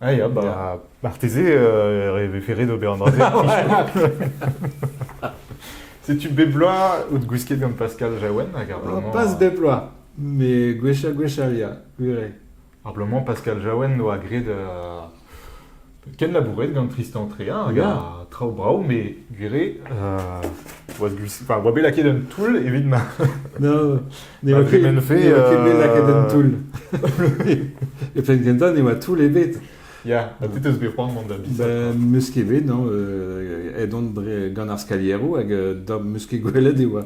Ah, ya, bah. marteze e vefe ret ober an dra-se. Setu bep bloaz out gwisket gant Pascal Jaouen hag ar bloaz Pas bep bloaz, mais gwechall gwechall ya, gwir Ar bloaz Pascal Jaouen oa graet euh, ken labouret gant Tristan Tréa hag a traoù brav, mais gwir oa bet lakaet un toull evit ma... non, Ne oa ket bet lakaet en toull. E penn gentañ ne oa toull ebet. Ya, ha te teus bet c'hoant mont da bisat? Ben, meus ket bet, non. Euh, aet on dre gant ar skalieroù hag euh, da meus ket gwelet e oa,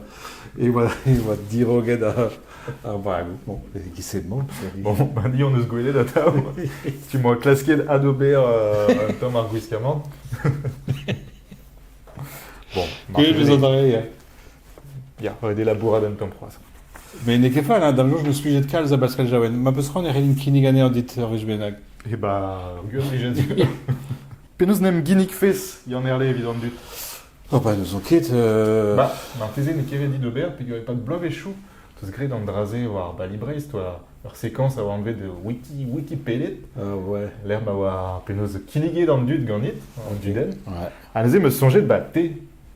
e oa, e oa diroget ar, ar vagoù. Bon, e bon. Bon, ben, dit, on eus gwelet atav. tu m'as klasket adober euh, un tom ar gwiskamant. bon, Good, vous adorer. Ya, ret eo labourat un tamm c'hoazh. Mais n'eo ket fall, hein, da jour, je me suis jet calze à Pascal Jaouen. Ma peus c'hoant e c'hellin kinnig anezhañ dit ur wech bennak. E ba, ar gwir blijenn. Penaos 'n em ginnig fez, Yann Erle, evit an dud Oh bah, n'ouzon ket. euh, Bah, marteze n'eo ket ret dit ober peget pas de bloavezhioù teus graet an dra-se war ar Bali Breizh, ur ur sekoñs a oa anvet Wiki Wikipedia, euh, ouais. lec'h ma oa penaos kinniget an dud ganit, an dudenn. Ouais. Ha neuze 'm eus soñjet, bah, te,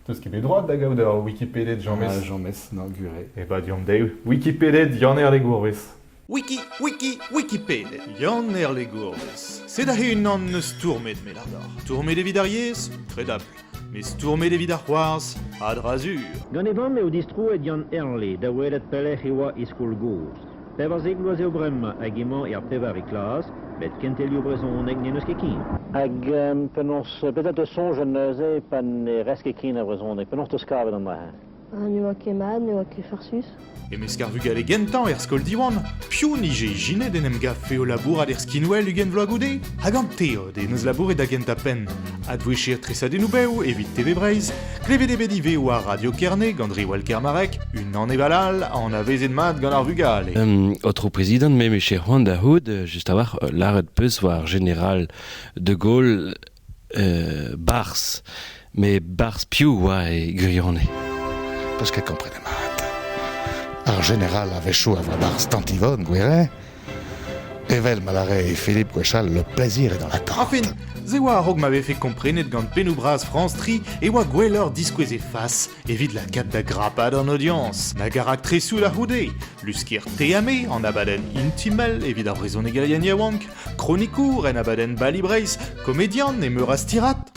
Teus ket bet droad da gaout ur Wikipeded, James? Ah, James, na gure. E ba deomp dezhi. Wikipeded Yann Erlegourvez. Wiki, wiki, Wikipeded, Yann Erlegourvez. Sed aze unan eus stourmet me ladar. Stourmet evit ar yezh? Kredabl. Met stourmet evit ar c'hoarzh? A dra sur. Gant e vamm eo distroet Yann Erle da welet pelec'h e oa e skol gozh. Pevarzek bloaz eo bremañ hag emañ er pevare klas, met kentelioù brezhoneg n'en eus ket ken. Hag penaos, petra 'teus soñj neuze pa ne rez ket ken a brezhoneg? Penaos 'teus kavet amañ? Ne oa ket mat, ne oa ket farsus. E-mesk ar vugale gentañ er skol Diwan, piv 'nije ijinet en em gavfe o labourat er skinwel ugent vloaz goude? Hag an teod en deus labouret da gentañ penn, Advouchir tresadennoù bev evit TV Breizh? Klevet eo bet ivez war Radio Kerne gant Riwal Kermarek, unan evel all anavezet mat gant ar vugale. Um, Aotrou Prezidant, me meche c'hoant da c'houd, euh, just a-walc'h, euh, lâret peus war Général de Gaulle euh, Bars. Mais Bars piv oa e gwirionez? Parce qu'elle comprenait mat. Ar général avait chaud à voix basse tant Yvonne, Gouéret, Evel ma lare Philippe gwechall, le plaisir est dans la tente. Afin, se oa a-raok ma vefe komprenet gant pennoù bras France Tri e oa gwelloc'h diskouez e fas evit la cape da grapad an audience. Na garak tresoù da c'houde, luskier teame an abadenn Intimal evit ar vrezhonegerien yaouank, kronikour en abadenn Bali Brace, komedian e meur a stirad.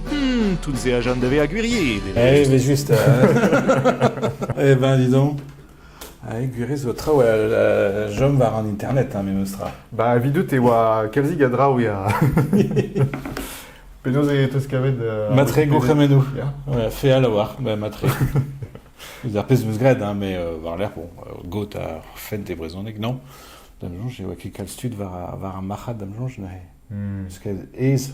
Hmm, tout-se a jeune de vezañ gwiriet. Eh, evel-just. eh ben, dis donc. Ai, gwiriet zo traoù a jom war an internet, hein, memes tra. Ba, evidout e oa kalzig a draoù ya. Penaos e teus kavet... Euh, matre gourc'hemennoù. Ouais, feal a-walc'h, ben, matre. Ar pezh meus graet, hein, mais euh, war lerc'h, bon, euh, got ar fent e brezhoneg, non. Dam soñj e oa ket kalz tud war, war ar marc'had, dam soñj, neuze. Hmm. Parce que aes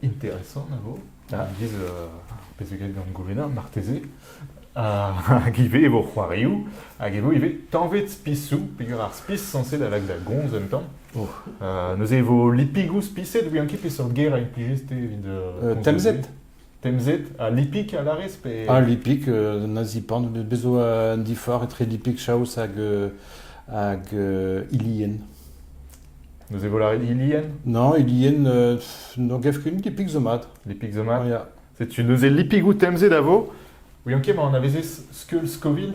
Interesant a vo. Ah, biz, euh, ar pezh zo graet gant Gourena, marteze. Ah, hag ivez e vo c'hoarioù, hag e vo ivez tañved spisoù, peger ar spis sañset a lak da gomz un tamm. Oh. Euh, neuze e vo lipigoù spiset, ouian ket peseurt ger a implijez te evit... euh, Euh, temzet Temzet, ha lipik a larez pe... Ah, lipik, euh, na zipan, bez zo un diforc'h etre lipik chaos hag, euh, hag euh, ilien. Neuze e vo lâret Ilien Non, Ilien, euh, n'en gav ket les pics zo mat. Les pics zo mat Ya. Setu neuze lipig out temze da vo. Ouion ket, ma anavezez Skeul Scoville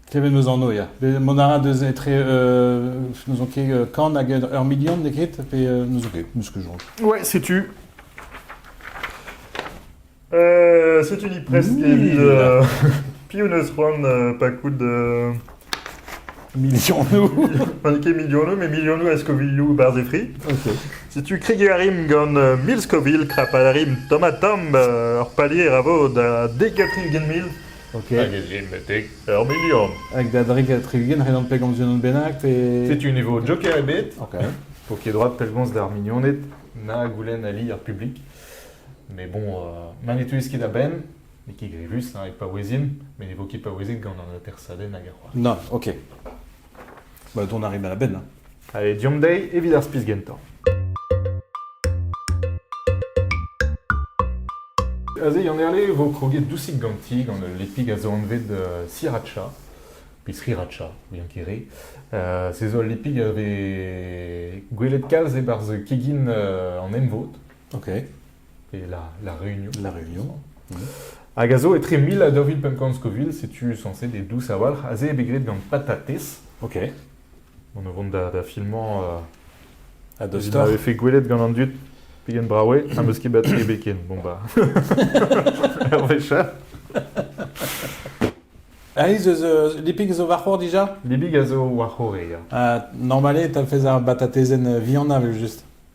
Klevet meus anv, ya. Be- Mont a ra deus etre... euh, n'ouzon ket euh, kan hag ur million, n'eo ket? Pe euh, n'ouzon ket, n'eus ket soñj. Ouais, setu. Setu ni prest evit piv 'neus c'hoant pa koud Milionoù. pa n'eo ket milionoù, met milionoù a Scovilleoù barzh e fri. Ok. Setu kregiñ a rimp gant mil Scoville, krapal a rimp tomatam, ur palier a vo da dek ha tri-ugent mil. Ok. Hag e rimp betek ur milion. Hag da drik ha tri-ugent, ret on pegañs unan bennak pe... Setu ne vo joker ebet. Ok. Poked droad pellgomz d'ar mignoned na goulenn ali ar publik. Mais bon, ma ne teuez ket a-benn, n'eo ket grevus hein, e paouezin, mais ne vo ket paouezet gant an atersadenn hag ar c'hoar. Non, ok. Bah, on arrive à la benne. Hein. Allez, diomp dezhi evit ar spis gentañ. Aze, Yann Erle vo kroget dousik ganti gant ul lepig a zo anvet euh, sriracha, pe sriracha, bien kere. Euh, se zo al lepig a vez gwelet kalz e-barzh kegin euh, an emvod. Ok. Et la, la Réunion. La Réunion. Hag a zo etre mil ha daou vil pemp Scoville, setu censé des douces awalc'h, aze eo bet graet gant patatez. Ok. On o vont da, da filmañ euh, A dos ma vefe gwelet gant an dud pegen brawe am eus ket bat ken. Bon bah. Hervesha. Alice, eus, euh, lipig zo war c'hor dija Lipig a zo war c'hor, ya. Uh, normale, t'as fait un batatezen euh, vianna, juste.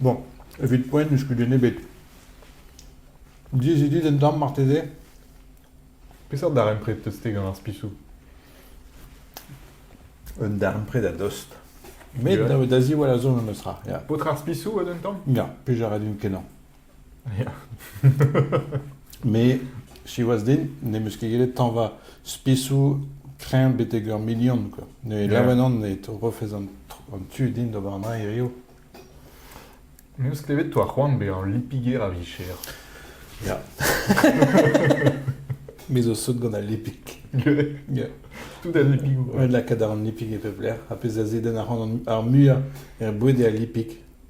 Bon, evit poent n'eus kudenn ebet. Diaes eo dit un tamm marteze? Peseurt darempred 'teus-te gant ar spisoù? Un darempred a-dost. Met da ziwall a zo memes tra. Ya. Paotr ar spisoù a un tamm? Ya, pe jar din kenañ. Me, siwazh din, n'em eus ket gellet tañva spisoù kreñv betek ur milion. Quoi. Ne Yeah. lavan an e rofez an, an tu din d'ober an dra hirio. Me eus klevet toa c'hoant bezañ lipiger a vicher. Ya. Me zo sot gant al lipig. Yeah. Tout al lipigoù. Ouais, lakaat a ran lipig e pep lec'h. Ha pezh a zedenn ar c'hoant ar muiañ er boued eo al lipig.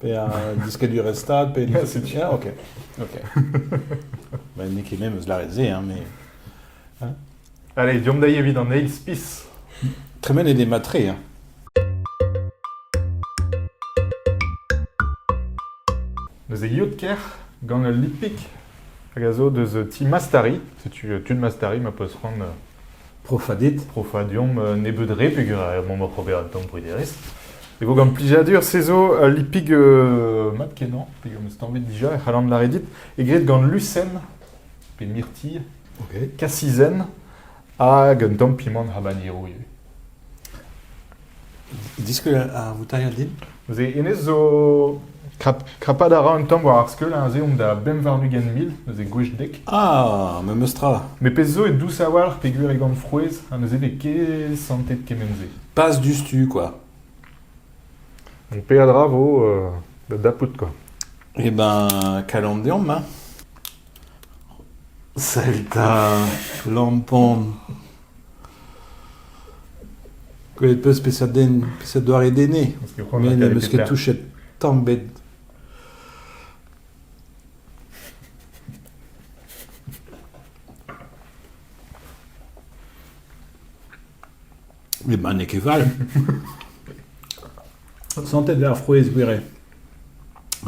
pe a diskadurezh-stad, pe... Setu. Ah, ok. ok. Bah, N'eo ket me eus lâret se, hein, mais... Allez, deomp da evit an eil spis. Tremen eo des matrés, hein. Deus e yod ker gant ul lipik hag a zo deus ti Mastari. Setu euh, tu de Mastari ma peus c'hoant euh, Profañ dit. Profañ deomp nebeut re peger er mont oc'h ober d'am brederezh. Hag gant plijadur, se zo ul lipig euh, mat-kenañ, peger am eus tañvet dija, e c'hallan lâret dit, e graet gant lusenn, pe mirtilh, Ok. kasizenn, hag un tamm pimant habanero ivez. Diskouez ar voutailhad din. Neuze hennezh zo... krap, krapat a ra un tamm war ar skeul, aze omp da bemp warn-ugent mil, neuze gwech dek. Ah, memes tra. Met pezh zo eo dous a-walc'h peogwir e gant frouezh, ha neuze n'eo ket santet kement-se. Pas diouzhtu, quoi. Donc peadra vo euh, da dapout, quoi. Eh ben, kalon deomp, hein. Salut 'ta, lampon. Gwelet 'peus peseurt den, peseurt doare den eo, me n'em eus ket touchet tamm 'bed. Met ma n'eo ket fall. Santet eo ar frouezh gwir eo.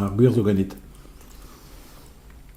Ar gwir zo ganit.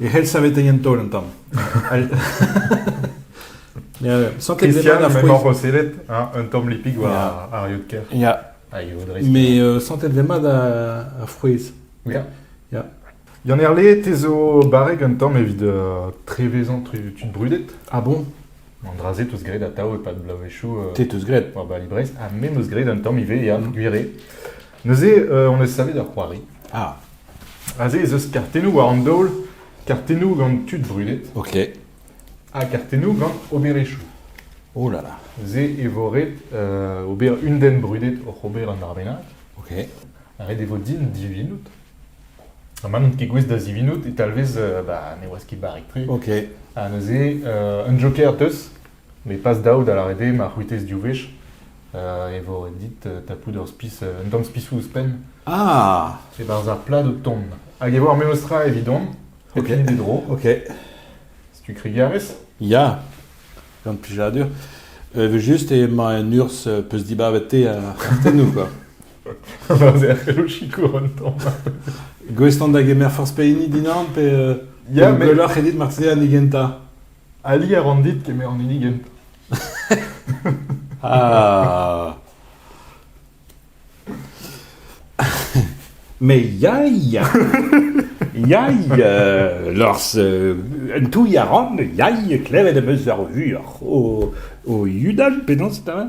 e c'hell savetañ an taol an tamm. Sanket Christian a m'emaoc'h o sellet un tamm lipig war ar yod-ker. Ya. Mais euh, santet mat a frouezh. Ya. Ya. Yann Erle, te zo barrek un tamm evit uh, trevezañ tud brudet. Ah bon An dra-se teus graet atav e-pad bloavezhioù. Euh, te teus graet. War Bali Brest. Ha me meus graet un tamm ivez, ya, mm. gwire. Neuze hon eus savet ur c'hoari. Ah. Aze ez eus kartennoù war an daol, kartennoù gant tud brudet, Ok. ha kartennoù gant oberezhioù. Oh là là. Ze e vo ret euh, ober un den brudet oc'h ober un ar bennak, Ok. ha ret e vo din divinout. Ha ma n'on ket gouest da zivinout e talvez euh, bah, ne oas ket barrek-tre. Ok. Ha neuze, euh, un joker teus, Met pas dav da lâret eo ma c'hwitez div wech e vo ret dit tapout ur spis, un tamm spisoù ouzhpenn. Ah! E-barzh ar plad o tont. Hag e vo ar memes tra evidon, hep hini d'e dro. Ok. tu krigarez Ya, gant plijadur. Euh, evel just emañ en urzh euh, peus dibabet te ar c'hartennoù, quoi. Erc'hel o sikour un tamm. Gouest on da gemer forzh pehini dinan pe euh, yeah, gwelloc'h edit marteze an gentañ. Ali a ran dit kemer an hini gentañ. Ah. Mais ya, ya. Ya, euh, lors, euh, un touille à Ran, ya, klevet am eus ar vuoc'h o, o Yudan, penaos eta?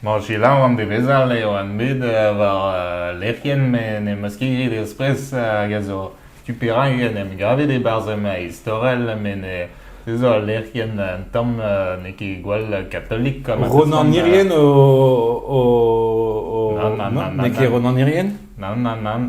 Bon, selaou an devezh-all eo an bet war lec'hienn met n'em eus ket graet eus-pres hag a zo tu perak en em gavet e-barzh ma istorell met ez eo al lec'hienn un tamm n'eo ket gwall katolik. Ronan Irien o... N'eo ket Ronan Irien? Nann, nann, nann.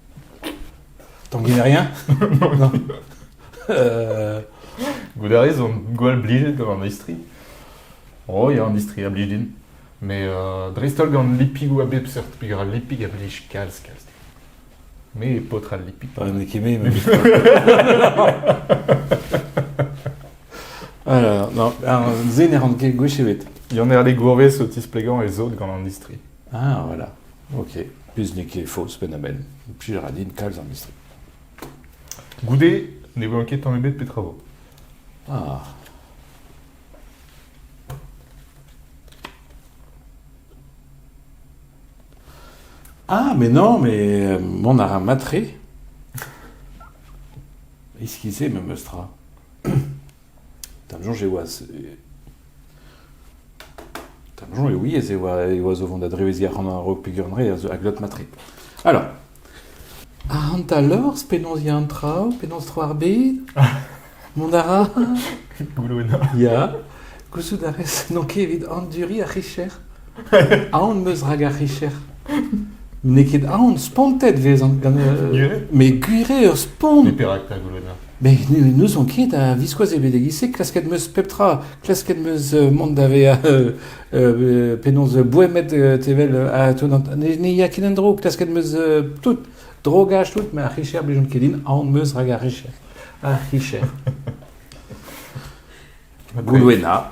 Tanguy rien Non. Euh, Goude a raison, gwall blijet gant an istri. Oh, ya, an istri a blij din. Mais euh, dreist-holl gant lipigou a bep seurt, pig a lipig a blij kalz, kalz. Mais paotr al lipig. Ouais, mais Kimé, mais... Alors, non, alors, zen e ran ket gwech ebet. Yon er le gourvez o tisplegan e zod gant an istri. Ah voilà, ok. Plus n'eo ket faos penn-ha-benn. Implij a ra din kalz ar mistri. Goude ne welan ket tamm ebet petra vo. Ah. Ah, mais non, mais euh, on a un matre. Ischizé, me meustra. D'am soñj e oa D'am soñj, oui, ez eo o vont da dreveziñ ar c'hanol peogwir a glot matre. Alors, ac'hanta lors, penaos ya an traoù, penaos tro ar bed, mont a ra, Ya, gouzout a rez n'on ket evit anduriñ ar c'hicher. Aon 'm eus rak ar c'hicher. N'eo ket aon, spontet 'vezan gant... euh, Gwir Mais gwir eo, spont Mais perak ta, Goulena Mais ne- n'ouzon ket a-viskoazh eo bet e-giz-se. Klasket 'm eus pep tra. Klasket 'm eus euh, mont da vezañ euh, euh, penaos euh, boemet euh, tevel ha tenant. Ne ne ya ket en-dro. Klasket 'm eus euh, tout. Drogaj, tout, mais ar c'hicher, blijont ket din. Aon 'm eus rak ar c'hicher. Ar c'hicher. Goulwena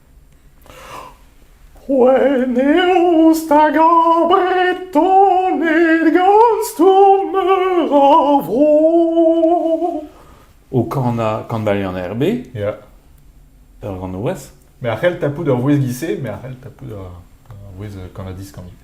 C'hwen eo stag ar Bretoned gant stourm meur a vro. O kanañ kanbalion RB. Ya. Ur ganourez. Me a c'hell tapout ur vouezh gise, me a c'hell tapout ur, ur vouezh kannadiz ivez.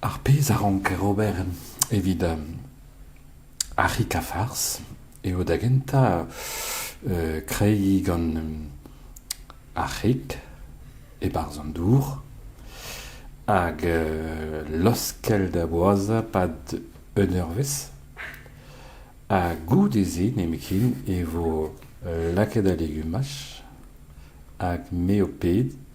Ar pezh a ranker ober evit ar c'hikafarz eo da gentañ kreiñ gant ar c'hig e-barzh an dour hag laoskel da boazhañ 'pad un eurvezh ha goude-se nemetken e vo lakaet al legumaj hag me ho ped.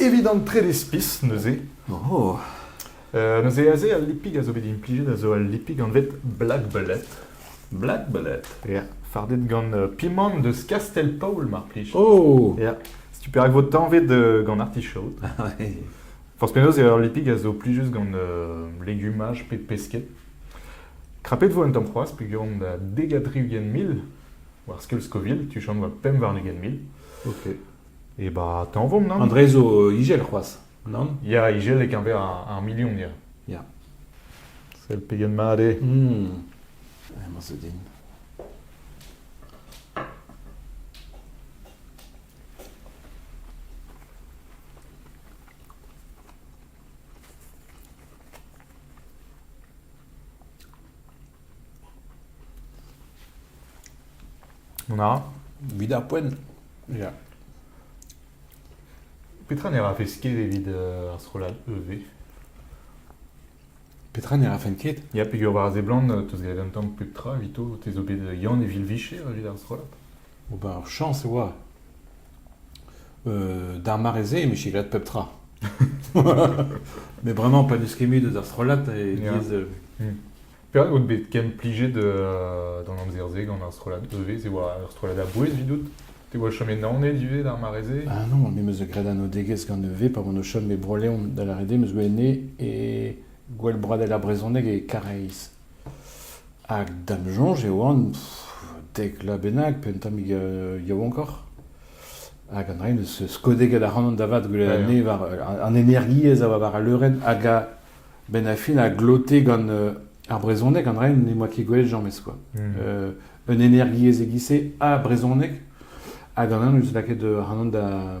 Evit an trede spis, neuze, Oh, euh, neuze aze al lipig a zo bet implijet a zo al lipig anvet black bullet. Black bullet. yeah. fardet gant euh, pimant deus Castelpaol, mar plij. oh Yeah. Setu perak vo tañvet euh, gant artichaut. ouais. Forzh penaos eo ar lipig a zo plijus gant euh, legumaj pe pesked. Krapet vo un tamm c'hoazh peogwir da dega tri ugent mil, war skeul Scoville, tu chom war pemp warn ugent mil. Ok. E ba tañvomp, nann? An dre zo ijel c'hoazh, nann? Ya, ijel e-keñver ar milion, ya. Ya. Sell pegen mat eo. Hmm. Emañ zo din. Na, 'vit ar poent. Ya. Petra ne rafes ket evit euh, ar strollad EV? Petra ne rafen ket? Ya, peogwir war a seblant, euh, 'teus graet un tamm pep tra evito. Te zo bet Yann e Vilvicher evit ar strollad? Ober ur chañs e oa. Euh, D'ar mare-se, e miche graet pep tra. Mais vraiment pas du skemu de strollad et Yeah. ils, euh, Période out bet ken plijet de, euh, d'an amzer-se gant ar strollad EV, c'est oa ar strollad a bouez vidout. Te oa chom enaon et du d'ar mare-se Ah non, me meus graet an odegez gant EV pa oan o chom e Broleon da la Rede, meus gwe ene e gwell bradel ar brezhoneg e Kareiz. Hag da'm soñj e oan dek vloaz bennak pe un tammig yaouankoc'h. Hag an raen eus skodegel ac'hanon da vat goude an ene war an energiezh a oa war al leurenn hag a-benn ar fin a glote gant ar brezhoneg. An raen n'em boa ket gwelet james quoi. un energiezh e-giz-se ha brezhoneg. Hag an anv n'eus lakaet ac'hanon da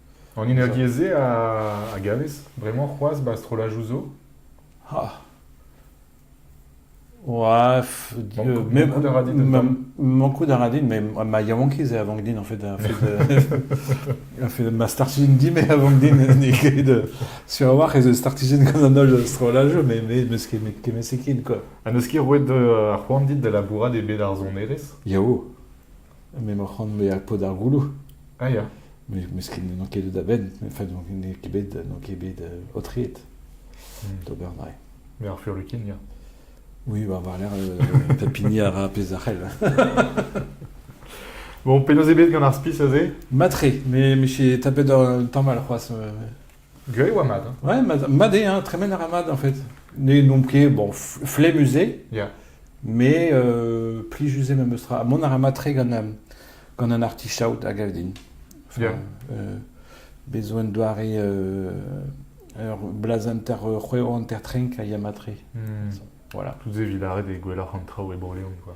An energiezh-se a gavez bremañ c'hoazh ba strollajoù zo ? Ha ! Oa f- Mankout- mankout a ra dit un tamm Mankout a ra din, mais ma yaouankiz eo a vank din en fait, a fait, de- a fait ma startizin di, mais a vank din n'eo ket de- sur a-walc'h ez eus startizin gant an holl strollajoù, mais mais meus ket kemmet-se ken quoi. Ha n'eus ket roet euh, ar c'hoant dit da labourat e bed ar sonerezh ? Yao M'emañ o c'hont bezañ paotr ar gouloù. Ah ya. Mesket n'on ket deut a-benn. Enfin, n'on ket bet, n'on ket bet aotreet d'ober mae. Met ar furlukin, ya. Oui, bah, war-lerc'h euh, tapini a ra pezh a c'hell. bon, penaos eo bet gant ar spi aze Matre, mais mais j'ai tapé dans le temps mal, crois. Gwez e oa mat. hein Ouais, mat, mat eo, hein, tremen a ra mat en fait. Ne n'omp ket bon f- flemmus-se, Yeah. mais euh, plijus-se memes tra. Ha mont a ra matre gant an, gant an artichaut a gav din. Enfin, Yeah. euh, besoin doare euh, ur blaz hanter euh, c'hweo hanter trenk a ya matre. Hmm. Voilà. Tous evit arrêt des gwelloc'h an traoù e Bro-Leon, quoi.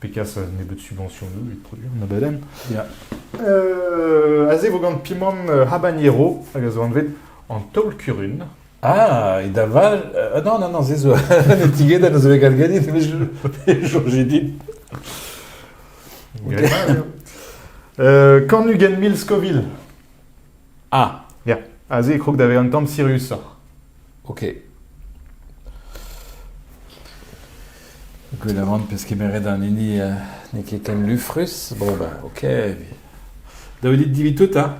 Pegaso a nebeut subventionoù evit produiñ an abadenn. Ya. Euh, aze vo gant Pimon euh, Habanero, hag a zo anvet an taol-kurun. Ah, et da val... euh, non, non, non, c'est zo. Ne tiged a zo gal gadit, mais je... J'ai dit. Euh, Cornugen Mil Scoville. Ah ! Ya, aze e krog da vezañ un tamm siriusoc'h. Ok. Gwelet a ran peus kemeret an hini euh, n'eo ket ken lufrus. Bon ben, ok. Davet dit divi tout, hein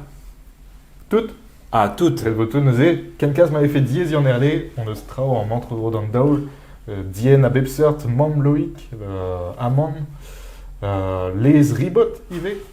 Tout Ah, tout Elle veut tout neuze. Quelqu'un m'avait fait diaes en erle, on eus traoù en mentro d'an daol, euh, dien a bep seurt, Mam Loïc, euh, Amam, euh, Lez Ribot ivez.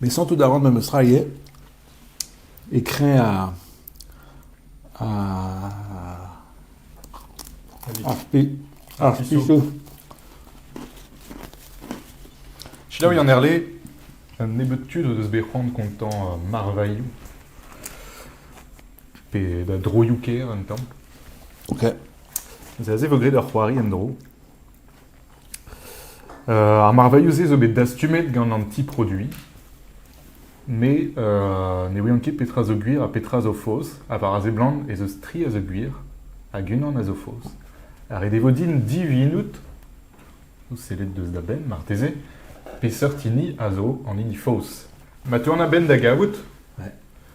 Met santout a ran memes tra ivez, e kreñv ar ar pe- ar pisoù. Selaou Yann Herle, un nebeud tud o deus bet c'hoant kontañ uh, marvailhoù pe da droioù kêr un tamm. Ok. C'est assez vo graet ur c'hoari en-dro. Ar marvailhoù-se zo bet dastumet gant an ti-produiñ, met ne ouian ket petra zo gwir ha petra zo faos, ha war a seblant ez eus tri a zo gwir hag unan a zo faos. Ha ret e vo din divinout, sellet deus da benn marteze, peseurt hini a zo an hini faos. Ma teuan a-benn da gavout,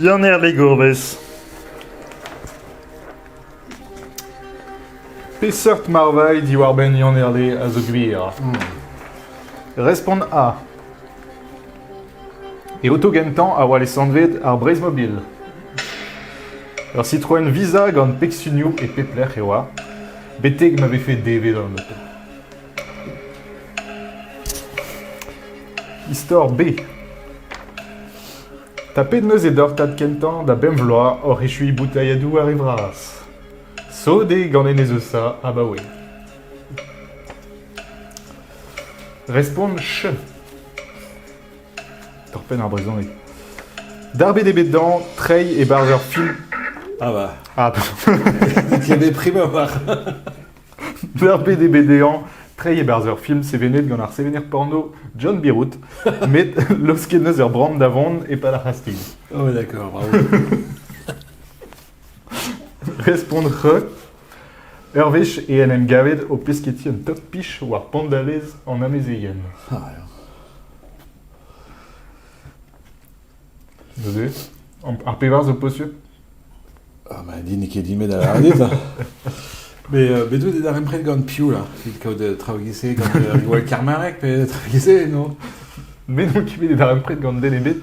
Dian er ligourvez. Peseurt marvailh diwar-benn Yann Herle a zo gwir? Respont A. E oto gentañ a oa lesanvet ar Breizh-Mobil. Ur Citroën Visa gant pegsunioù e pep lec'h e oa, betek ma vefe devet an oto. Istor B Tapet neuze doc'h tad kentañ da bemp vloaz oc'h echuiñ boutailhadoù ar re vras. Sot eo gant enez Eusa abaoe. Respont ch. Ur penn ar brezhoneg. Darbet eo bet dañ treiñ e-barzh ur film. Ah bah, Ah, il y a des primeurs. darbet eo bet dezhañ treiñ e-barzh ur film sevenet gant ar sevener porno John Birout, met losket neus ur bran da vont e-pad ar c'hastig. Oh ouais, d'accord, bravo. Respont re. Ur wech e en em gavet o pesketi un top-pich war pondalez an amezeien. Neuze, ar pevar zo posupl Ah, ma dit n'eo ket dimet a lâret ça. Mais euh, bet out e darempred gant piv là Evit kaout euh, traoù gise gant euh, Riwal Karmarek pe traoù gise, non? Me n'on ket bet e darempred gant den ebet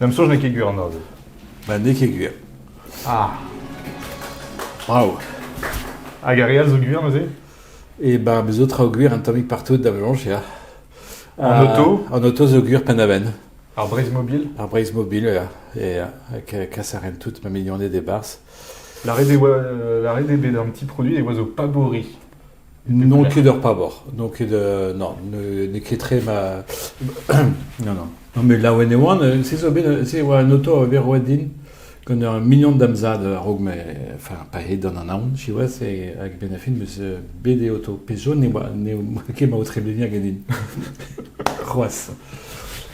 D'am soñj n'eo ket gwir an aozer. Ba n'eo ket gwir. Ah, Brav. hag ar re all zo gwir neuze E ba bez zo traoù gwir un tammig partout da Velañs ya. En Euh, auto En auto zo gwir Pennaven. Ar Breizh Mobile Ar Breizh Mobile ya. Et euh, que que ça renne toute ma mignonnée des Barses. La RDB, euh, la RDB d'un petit produit des oiseaux pas bourris. N'on ket ur pabor, n'on ket euh, non, n'eo ket tre ma... non, non. Non, mais laouen e oan, euh, se zo bet, se e oa un auto a bet roet din gant ur mignon d'am zad a-raok me, enfin, pa he d'an anaon, siwazh, e, hag ben a fin meus euh, bet e auto. Pezh zo ne oa, ne oa ket ma o trebleniñ hag din. C'hoazh.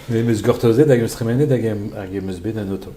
Mais meus gortozet hag meus tremenet hag em, hag em eus bet un auto.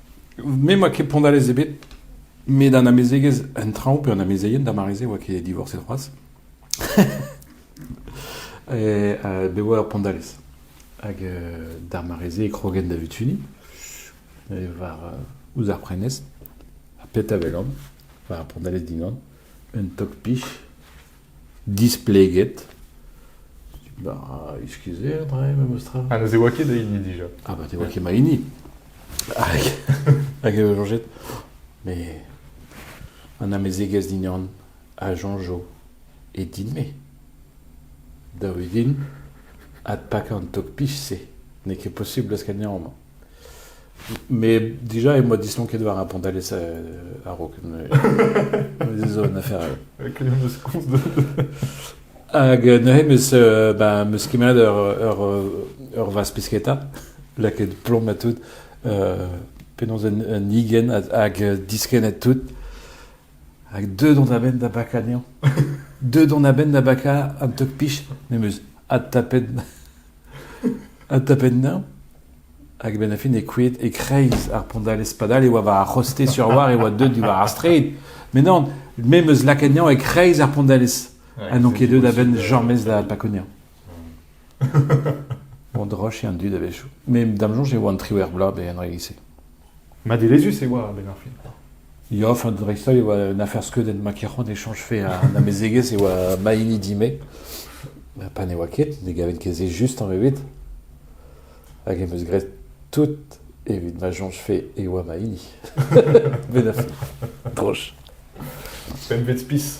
Me 'oa ket pondalez ebet, met an amezegez, an traoù pe an amezeien d'ar mare-se 'oa ket divorset c'hoazh. E euh, bet 'oa ur pondalez. Hag euh, d'ar mare-se e krogen da Vutuni, e war euh, ouzh ar prenestr, ha pet a welan, war ar pondalez dinan, un tok-pich Displeget. Bah, excusez dre, ma mostra. Ah, ne se voit ket da hini déjà. Ah, bah, tu vois qui m'a hini. Hag hag euh, Georgette. Mais. On a mes égaz dignan a Jean-Jo et din-me. Da wedin, ad pak an tok pich-se. N'eo ket possible eus ganeomp. Mais déjà, moi, disons qu'elle doit répondre à l'essai à Rock. Désolé, une affaire. Quel est le sens de. Hag neuze, meus, euh, ben, meus kimet ur, ur, ur vaz pisketa, lakaet plom ha tout, euh, penaos un, un igen hag diskennet tout, hag deux dont a benn da baka dezhañ, deux dont a benn da baka un tok pich, meus, adtapet Un tapenn-neñv hag a-benn ar fin eo krouet e-kreiz ar Pondalez. Padal e oa war ar c'hoste sur a-walc'h e oa deuet diwar ar straed. Met non, me 'm eus lakaet neñv e-kreiz ar Pondalez. ha n'on ket deuet da benn jamez da Pakonia. Bon, droch eo an dud a-wechoù. Met da'm soñj e oa an triwec'h bloaz bet en re lise. Madelezhus e oa a-benn ar fin. Ya, enfin dreist-holl e oa un afer skeudenn ma kerc'hont e chañjfe an amezegez e oa ma hini di-me. Pa ne oa ket, ne gaven ket se just tamm ebet. Hag em eus graet tout evit ma soñjfe e oa ma hini. Met a fin. Droch. Pempvet spis.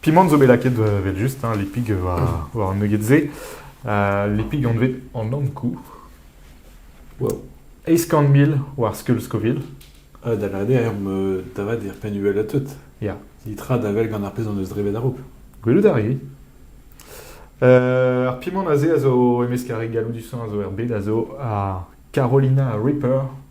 Pimant zo bet lakaet evel-just, hein, lipig war, war an nugget-se. Uh, lipig anvet an Ankou. Wow. Eizh kant mil war skeul Scoville. Uh, da lavaret, er me tavat er penn uhel tout. Ya. Nitra da vel gant ar pezh hon eus drevet a-raok. Gwelout a ri. Uh, ar pimant aze a zo, emez ar galloudusañ a zo er bed, a zo ar Carolina Ripper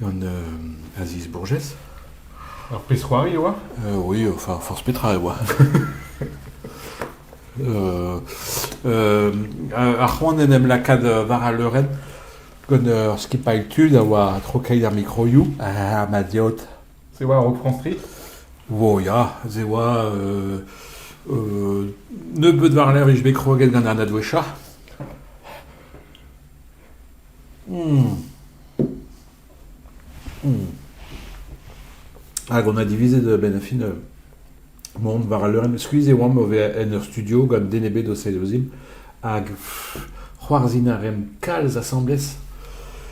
gant Aziz Bourgès. Ur pezh-c'hoari e oa Oui, enfin, forzh petra e oa. ar c'hoant en em lakaat war al leurenn gant ur skipailh tud a oa trokeiz ar mikroioù ha ma deod. Se oa Rock Street Wo, ya, se oa euh, euh, nebeut war-lerc'h vije bet kroget gant an adwesha. Hag on a divizet a-benn ar fin mont war al leurenn. Skuizh e oamp o vezañ en ur studio gant den ebet o sailhozimp. Hag c'hoarzhin a reemp kalz asambles.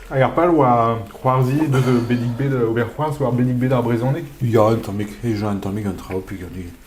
Hag ar pal oa c'hoarzhiñ deus Bennig Bet, ober c'hoarzh war Bennig Bet ar brezhoneg? Ya, un tammig. Hejañ un tammig an traoù piganik.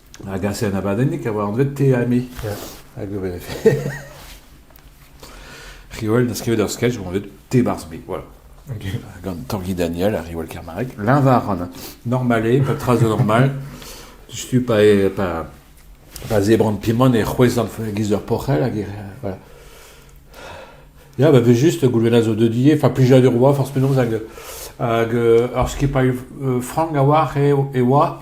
A gase an abadennig a oa anvet Te ha Me. Ya. Hag ober. Riwell n'a skrivet ur sketch eo anvet Te barzh me. Voilà. Ok. Gant Tanguy Daniel ha Riwell Kermarek. L'invaran. Normal eo, pas de trace de normal. Stup pa, e- pa, pa zebran pimon e c'hwezan giz ur porc'hell hag e... Voilà. Ya, ba vez just goulenna zo deudie, fa plijadur oa, forzh penaos, hag, hag euh, ur skipailh euh, frank a oa, e, e oa,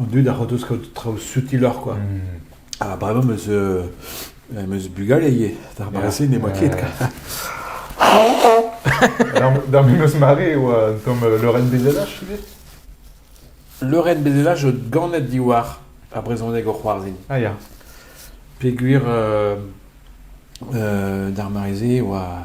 An dud a c'hortoz kaout traoù sutiloc'h kwa. Ha bremañ 'm eus em eus bugale ivez, d'ar mare-se n'emañ ket. D'ar memes mare e oa un tamm leurenn bezellaj ivez? Leurenn bezellaj zo ganet diwar ar brezhoneg o c'hoarzhin. Ah ya. Peogwir, d'ar mare-se e oa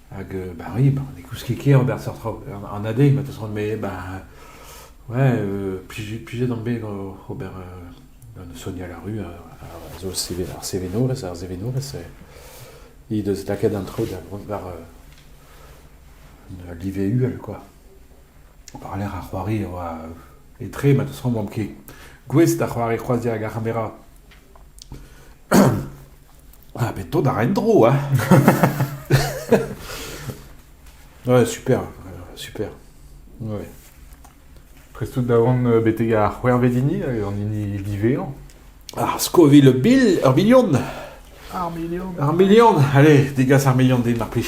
Hag euh, bah oui, bah, n'écoute ket ket ober seurt traoù. An adé, ma teus roet, mais bah, ouais, euh, plije d'am bet ober euh, un soniñ à la rue, a zo ar sevenores, ar sevenores, he deus lakaet an tro da vont war euh, live uhel, quoi. Par l'air a c'hoari, etre, ma teus roet, ket. Gouest a c'hoari croazier hag ar c'hamera. Ah, bet tout àr en-dro, hein! Ouais, super, euh, super. Ouais. Prestout da vont euh, betek ar c'hwervedini hag an hini divezañ. Ar Scoville bil, ur milion! Ar milion! Ar milion! Allez, degas ar milion din, mar plij.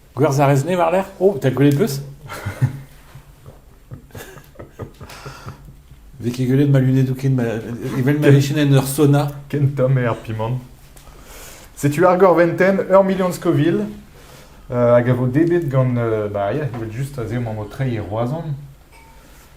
Gwerzh a rez-ne war-lerc'h? Oh, 'ta gwelet 'peus? Vez ket gwelet ma lunedoù ken ma... evel ma vijen en ur sauna. Ken tomm eo ar pimant. Setu ar Gorventen, ur milion Scoville, euh, hag a vo dedet gant... euh, bah, yeah, evel just aze emañ o treiñ e Roazhon.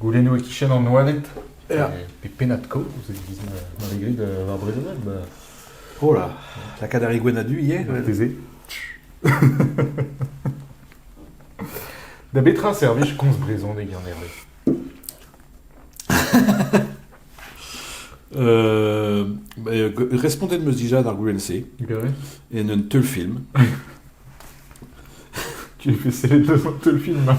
Goulennoù e-kichen an oaled pe pennad-kaoz e-giz ma vez graet war brezhoneg ba... Oh là, lakaat ar igouenn-a-du ivez Marteze. Da betra servij komz brezhoneg en Herve? Euh, bah, euh, respondez de me dija d'ar goulenn-se Gare. en un teulfilm. Tu es fait le devant le film. hein.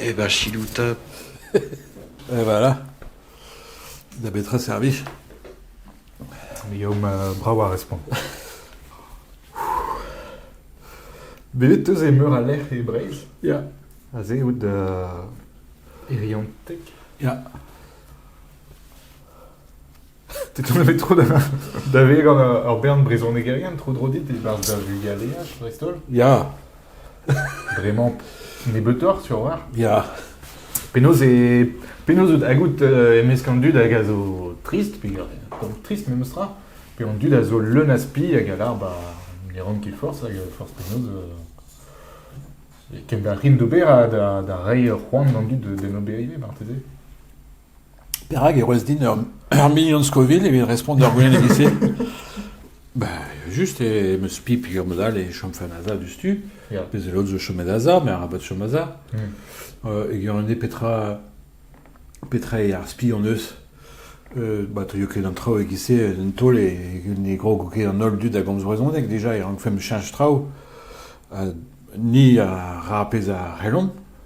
Eh ben, chilou top. Et voilà. Da betra servich Guillaume, euh, bravo à répondre. Bet eus e meur a lec'h e Breizh. Ya. Aze out da Iriantek. Ya. T'es tombé trop davet gant ur bern brezhonegerien tro-dro dit e-barzh da vugaleaj dreist-holl Ya, Bremañ nebeutoc'h sur war ya. Penaos e penaos out hagout euh, emesk an dud hag a zo trist pe pas trist memes tra pe an dud a zo leun a spi hag a lar ba ne ran ket force hag euh, force penaos euh, ken da rin d'ober ha da da reiñ ur c'hoant d'an dud d'en ober ivez marteze Perak e roez din ur ur mignon Scoville evit respont d'ar goulenn-se? Ben, just e 'm eus pip a-mod-all e chom fin aza diouzhtu. Ya. Pezh a lod zo chomet aza, me arabat chom aza. Hmm. Euh, e garan eo petra petra eo ar spi hon eus. Euh, ba teuio ket an traoù e-giz-se un taol e ne grog ket an holl dud a gomz brezhoneg déjà e rankfemp cheñch traoù. Ha ni a ra pezh a c'hellomp.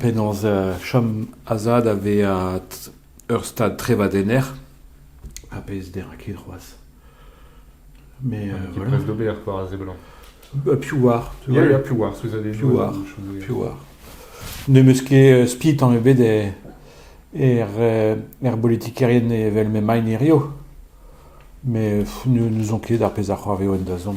Penaos chom a-zad a vezañ ur stad trevadenner ar pezh ne ra ket c'hoazh. Met voilà. Prest d'ober war a seblant. Piv 'oar tu Ya, ya, piv 'oar souezhadennoù. Piv 'oar, chomoù, piv 'oar. N'em eus ket spi tamm ebet er er bolitikerien evel m'emaint hiziv. Met pff, ne n'ouzon ket ar pezh a c'hoarveo en dazont.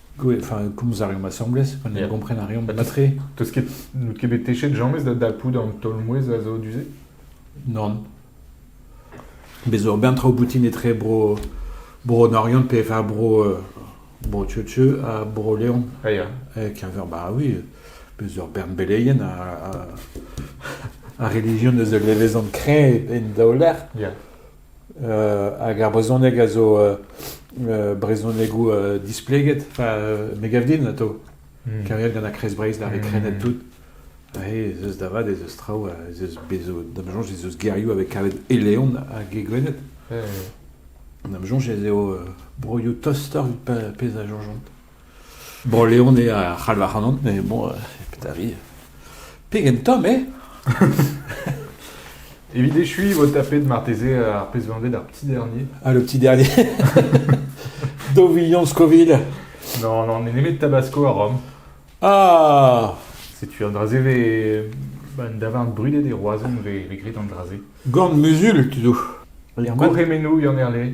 enfin, komz a reomp asambles, pa ne gompren a reomp mat-tre. Teus ket, n'out ket bet techet james da dapout an taol-mouezh a zo du-se Non. Bez zo ben traoù boutin etre bro, bro Norion pe enfin bro, euh, bro Tcheu ha bro Leon. Ah ya. E keñver, bah oui, bez zo bern beleien a, a, a religion eus el levezon kreñv en daoler. Yeah. Hag ar brezhoneg a zo brezhonegoù displeget. Enfin, me gav din atav. Kariet gant ar Kreiz Breizh, da reprenet tout. Aze ez eus da vat, ez eus traoù, ez eus bez zo, da ma soñj ez eus gerioù a vez kavet e Leon hag e Gwened. Da ma soñj ez eo broioù tostoc'h evit pezh a soñjont. Bro-Leon eo a c'halv ac'hanon, mais bon, pedavi. Pegen tomm eo! Evit echuiñ, vo tapet marteze ar pezh vanvet ar petit dernier. Ah, le petit dernier. Dovillan Scoville. Non, non, on est nemet Tabasco à Rome. Ah Setu un drasé ve... Un davarn brudet e Roazhon ve regret an drasé. Gorn muzul, tu tout. Koremenou, Yann Erlé.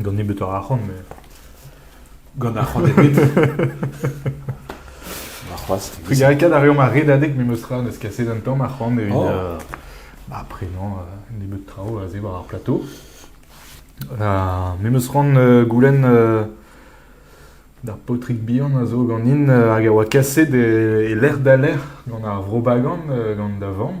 Gant nebeutoc'h arc'hant, met... Gant arc'hant ebet. Warc'hoazh. Trugarekaat a reomp ar redadeg memes tra, n'eus ket kaset un tamm arc'hant evit... Oh. euh, bah, après, non, euh, nebeut traoù a-se war ar plateau. Euh, memes ran euh, goulenn euh, d'ar paotrig bihan a zo ganin euh, hag a oa kaset e, e lec'h da lec'h gant ar Vrobagan euh, gant da vamm.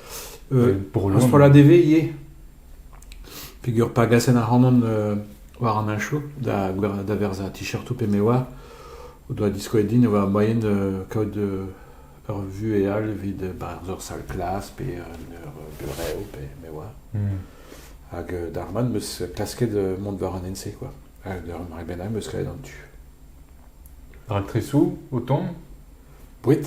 Bro Ur strollad e vez ivez peger pa gasen ac'hanon euh, war an achoù da, da verzañ t-shirtoù pe me oa o doa diskoet din e oa moaien de kaout euh, ur vuhel evit euh, bah, ur sal klas pe ur burev pe me oa. Hmm. Hag d'ar man meus klasket mont war an ense quoi. Hag d'ar mare bennak meus kavet an tu. Raktresoù o ton Boued.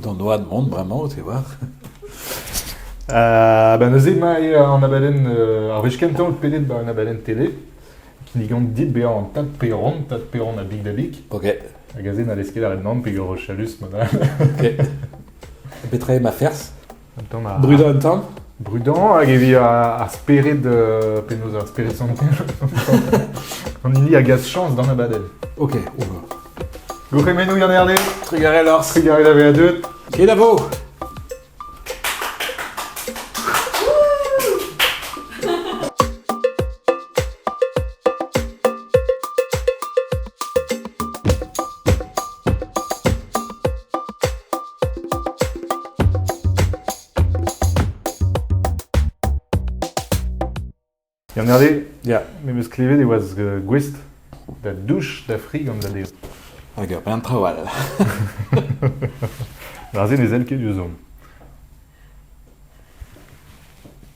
D'an oad mont bremañ, te oar. Uh, ba neuze emañ an abadenn, uh, ar wech kentañ out pedet ba un abadenn tele, kinnigan dit bezañ an Tad Peron, Tad Peron a Big da Big. Ok. Hag aze n'hallez ket aret nann peger chalus ma da. Ok. Petra eo ma ferzh? Brudañ un tamm Brudañ hag evit ar spered, euh, penaos ar spered santel, an hini a gas chañs d'an abadel. Ok, on va. Gourc'hemennoù Yann Herle, Trugarez Lors. trugarez la veadut. Kenavo Gant erde, ya, me meus klevet e oa gouest da douch da fri gant da dez. Hag ur bern traoù all. Ar se ne sell ket diouzh